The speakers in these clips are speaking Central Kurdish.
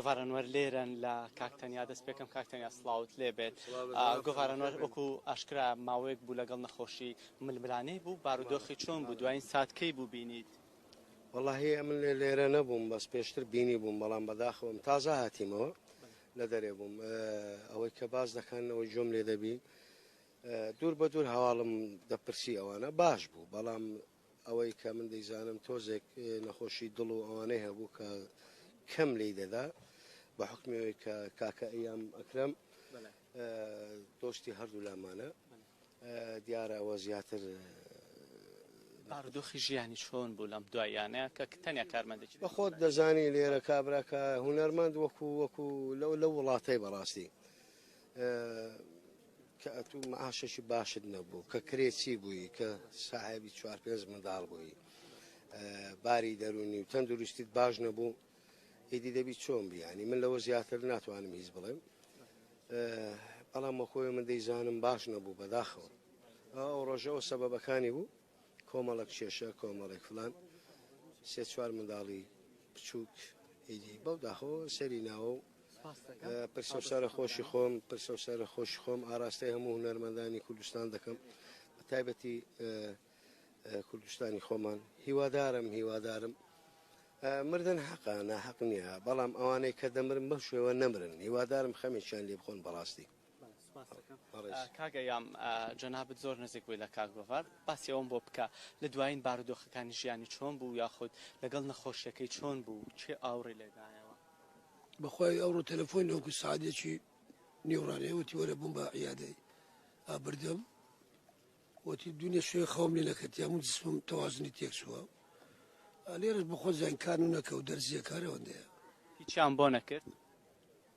گۆڤارەنوەر لێرەن لە کاک تەنیا دەست پێکەم کاک تەنیا سڵاوت لێ بێت گۆڤارەنوەر وەکو ئاشکرا ماوەیەک بوو لەگەڵ نەخۆشی ململانەی بوو بارودۆخی چۆن بوو دوایین سات کەی بوو بینیت واللهی ئەمن لێ لێرە نەبووم بەس پێشتر بینی بووم بەڵام بەداخەوەم تازە هاتیمەوە لە دەرێ بووم ئەوەی کە باز دەکەن ئەوەی جۆم لێ دەبی دوور بە دوور هەواڵم دەپرسی ئەوانە باش بوو بەڵام ئەوەی کە من دەیزانم تۆزێک نەخۆشی دڵ و ئەوانەی هەبوو کە کەم لێی دەدا بە حکمی ئەوەی کە کاکە ئەیام ئەکرم دۆستی هەردوو لامانە دیارە ئەوە زیاتر باردۆخی ژیانی چۆن بوو لەم دوایانەیە کە تەنیا کارمەندێکی بە خۆت دەزانی لێرە کابراکە هوەرمەند وەکو وەکو لەو لە وڵاتەی بەڕاستی کە ئەتوو معاشێکی باشت نەبوو کە کرێچی بووی کە ساحێبی چوار پێنج منداڵ بووی باری دەرونی و تەندروستیت باش نەبوو ئیدی دەبی چۆن بیانی من لەوە زیاتر ناتوانم هیچ بڵێم بەڵام مەخۆی من دەیزانم باش نەبوو بەداخەوە ئەو ڕۆژەوە سەبەبەکانی بوو کۆمەڵێک کێشە کۆمەڵێک فلان سێ چوار منداڵی بچووک ئیدی بەو داخۆ سەری ناوە و پرسە و سارە خۆشی خۆم پرسە و سارە خۆش خۆم ئاراستەی هەموو هونەرمەندانی کوردستان دەکەم بە تایبەتی کوردستانی خۆمان هیوادارم هیوادارم مردن حەقا ناحق نییە بەڵام ئەوانەی کە دەمرن بەم شێوە نەمرن هیوادارم خەمێکیان لێ بخۆن بەڕاستی بەڵێ سوپاست دەکەم. بەڕێز. کاک ئەیام جەنابت زۆر نزیک بووی لە کاک گۆڤار، باسی ئەوەم بۆ بکە لە دوایین بارودۆخەکانی ژیانی چۆن بوو یاخود لەگەڵ نەخۆشیەکەی چۆن بوو کێ ئاوڕی لێ دایەوە؟ بەخوای ئەوڕۆ تەلەفۆن نەوەکو سەعات یەکی نیو ڕانێ وتی وەرە بم بە عیادەی ئا بردم وتی دونێ شوێ خەوم لێ نەکرد یا من جسمم تەوازنی تێک چووە لێرەش بەخۆ زانکان و نەکە و دەرزیەکان ئەوەندەیە هیچیان بۆ نەکرد؟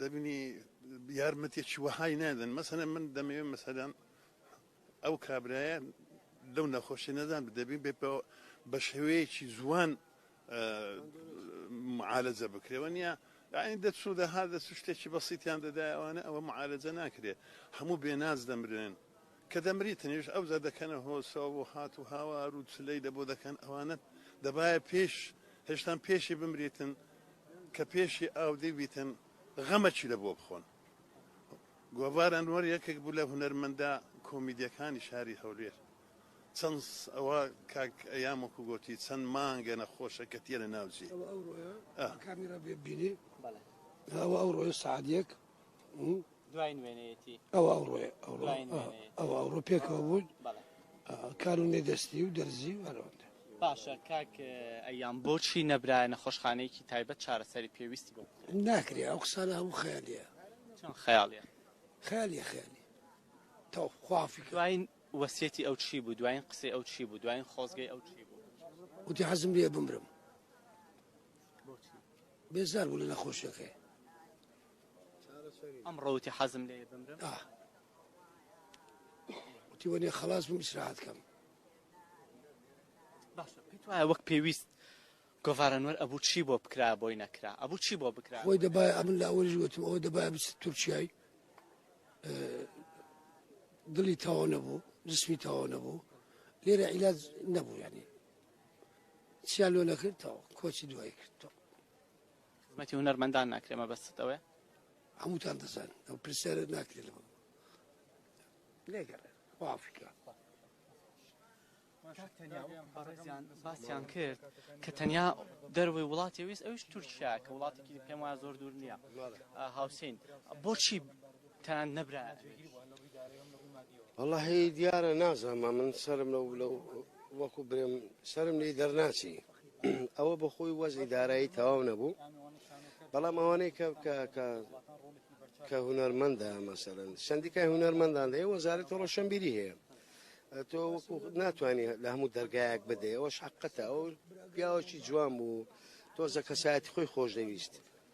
دەبینی یارمەتیەکی وەهای نادەن مەسەلەن من دەمەوێت مەسەلەن ئەو کابرایە لەو نەخۆشی نەدان دەبین بێ بە شێوەیەکی زوان معالەجە بکرێەوە نیە یعنی دەچوودە هەر دەست شتێکی بەسیتیان دەدایەوانە ئەوە معالەجە ناکرێت هەموو بێناز دەمرێن کە دەمریتنیش ئەوجا دەکەنە هۆسە و هات و هاوار و چلەی لەبۆ دەکەن، ئەوانە دەبایە پێش هێشتان پێشی بمریتن کە پێشی ئاودیو بیتن، غەمەکی لەبۆ بخۆن. گۆڤار ئەنوەر یەکێک بوو لە هونەرمەندە کۆمیدیەکانی شاری هەولێر، چەند ئەوە کاک ئەیام وەکو گۆتی چەند مانگە نەخۆشە کە تیە لە ناو جێ. ئەوە ئەو ڕۆیە کامیرا بێ ببینی ئەوە ئەو ڕۆیە سەعات یەک. دوای نوێنەتی ئەو ئەوڕۆ پێکەوە بوون کارونێ دەستی و دەرزی و هەرەوەندە باشە کاک ئەیان بۆچی نەبرایە نەخۆشخانەیەکی تایبەت چارەسەری پێویستی بۆ ناکرێ ئەو قسانە هەموو خیالیە خیاڵە خیالی خیالی تاو خوافی دوایین وەسیەتی ئەو چی بوو دوایین قسەی ئەو چی بوو دوایین خۆزگەی ئەو چی بوو وتی حەزم لێ بمرم بێزار بوو لە نەخۆشیەکەی چارەسەری ئەمڕۆ وتی حەزم لێیە بمرم ئاه وتی وەنێ خلاص بووم ئیسراحەت کەم باشە پێت وایە وەک پێویست گۆڤارەنوەر ئەبوو چی بۆ بکرا بۆی نەکرا ئەبوو چی بۆ بکرا خۆی دەبای ئەمن لە ئەوەش وتم ئەوە دەبای بچ تورکیای دڵی تەواو نەبوو جسمی تەواو نەبوو لێرە عیلاج نەبوو یعنی چیا لۆ نەکرد تەو کۆچی دوایی کرد تۆ خزمەتی هونەرمەندان ناکرێ مەبەستت ئەوێ هەمووتان دەزان ئەو پرسیارە ناکرێت لەوە لێگەڕێ وافکە باسیان کرد کە تەنیا دەروی وڵاتی ویست ئەوش تورکیا کە وڵاتێکی پێم وایە زۆر دوور نییە هاوسین بۆچی تان نەبرا والله هی دیارە نازانم من سرم لەو لەو وەکو برم سرم لی دەرناچی ئەوە بەخۆی وەزی دارایی تەواو نەبوو بەڵام ئەوانەی کە کە کە هوەرمەندە مەسەرن سندیکای هوەرمەندان دەیە وەزارەت ڕۆشنبیری هەیە تۆ ناتوانانی لە هەموو دەرگایەک بدە ئەوە شقەتە ئەو پیاوەکی جوان بوو تۆزە کەسایەتی خۆی خۆش دەویست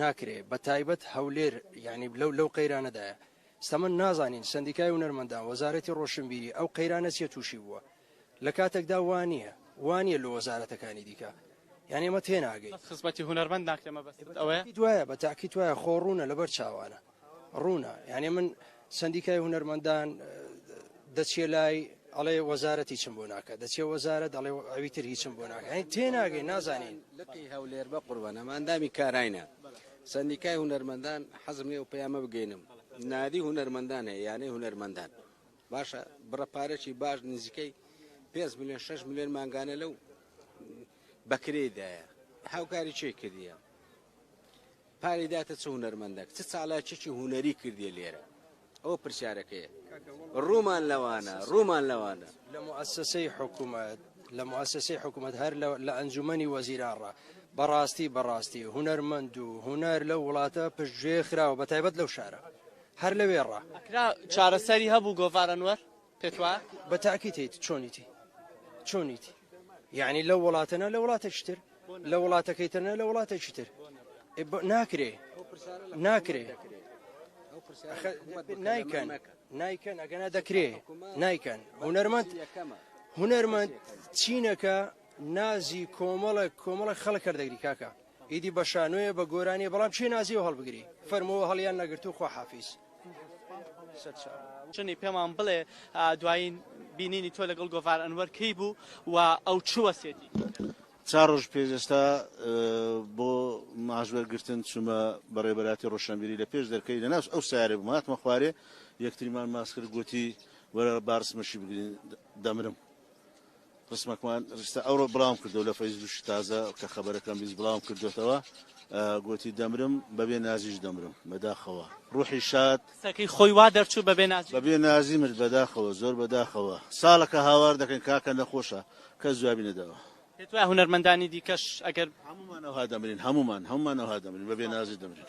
ناکرێ بە تایبەت هەولێر یانی لەو لەو قەیرانەدایە ستەمە نازانین سەندیکای هونەرمەندان وەزارەتی ڕۆشنبیری ئەو قەیرانە چیە توشی بووە لە کاتەکدا وا نیە وا نیە لۆ وەزارەتەکانی دیکە یانی ئێمە تێناگەین. بەس خزمەتی هونەرمەند ناکرێ مەبەستت ئەوەیە؟ دوایە بە تاکید وایە خۆ ڕوونە لەبەر چاوانە. ڕوونە یانێ من سەندیکای هونەرمەندان دەچێ لای ئەڵێ وەزارەتی چم بۆ ناکە دەچێ وەزارە دەڵێ ئەوی تر هیچم بۆ ناکەین تێناگەی نازانین لقی هەولێر بە قوربەنەماندامی کاراینە سندیکای هونەرمەندان حەزم لێ و پەیامە بگەینم نادی هونەرمەندان هەیە یانەی هونەرمەندان باشە بڕە پارێکی باش نزیکەی 5 میلیۆن 6 میلیۆن مانگانە لەو بەکرێدایە هاوکاری چێ کردیە پارەی داتە چ هونەرمەندەک چ چالاکیەکی هونەری کردیە لێرە ئەوە پرسیارەکەیە ڕوومان لەوانە ڕوومان لەوانە لە موسسەی حکومەت لە موسسەی حکومەت هەر لە ئەنجومەنی وەزیرانڕا بەڕاستی بەڕاستی هونەرمەند و هونەر لەو وڵاتە پشتگوێ خراوە بە تایبەت لەو شارە هەر لەوێڕا چارەسەری هەبوو گۆڤارەنوەر پێت وایە؟ بە تاکید هەیت چۆنیتی چۆنیتی یعنی لەو وڵاتەنە لە وڵاتێکی تر لە وڵاتەکەی ترنە لە وڵاتێکی تر ناکرێ ناکرێ نایکەن نایکەن ئەگەنا دەکرێ نایکەن هونەرمەند هونەرمەند چینەکە نازی کۆمەڵە کۆمەڵە خەڵک کردەگری کاکە ئیدی بە شانۆیە بە گۆرانیە بەڵام چێ نازیەوە هەڵبگری فەرمووە هەڵیان نەگرتو خوا حافیز. جنی پێمان بڵێ دوایین بینینی تۆ لەگەڵ گۆڤار ئەنوەر کەی بوو و ئەو چ وەسێتی چار ڕۆژ پێش ئێستا بۆ ماش وەرگرتن چوومە بەڕێبەراتی ڕۆشنبیری لە پێش دەرکەی لە ناوس ئەو سارێ بووم هاتمە خوارێ یەکتریمان ماس کرد گوتی وەرە بارسمەشی بگرین دەمرم ڕسمەکمان ڕیستە ئەوڕۆ بڵاوم کردو لە فەیسبووکی تازە کە خەبەرەکەم بیست بڵاوم کردۆتەوە گۆتی دەمرم بەبێ نازیش دەمرم بەداخەوە ڕوحی شاد قسەکەی خۆی وا دەرچوو بەبێ نازی بەبێ نازی مرد بەداخەوە زۆر بەداخەوە ساڵەکە هاوار دەکەین کاکە نەخۆشە کەس جوابی نەداوە. پێت وایە هونەرمەندانی دیکەش ئەگەر. هەموومان ئەوها دەمرین هەموومان هەموومان ئەوها دەمرین بەبێ نازی دەمرین.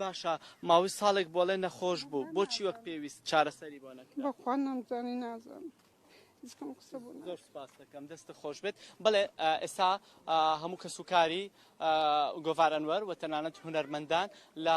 باشە ماوەی ساڵێک بۆڵێ نەخۆش بوو بۆچی وەک پێویست چارەسەری بۆ نەکرا؟ بەخوا نەمزانی نازم زکم قسە بوو زۆر سپاس دەکەم دەستە خۆش بێت بڵێ ئێستا هەموو کەسوکاری گۆڤار ئەنوەر و تەنانەت هونەرمەندان لە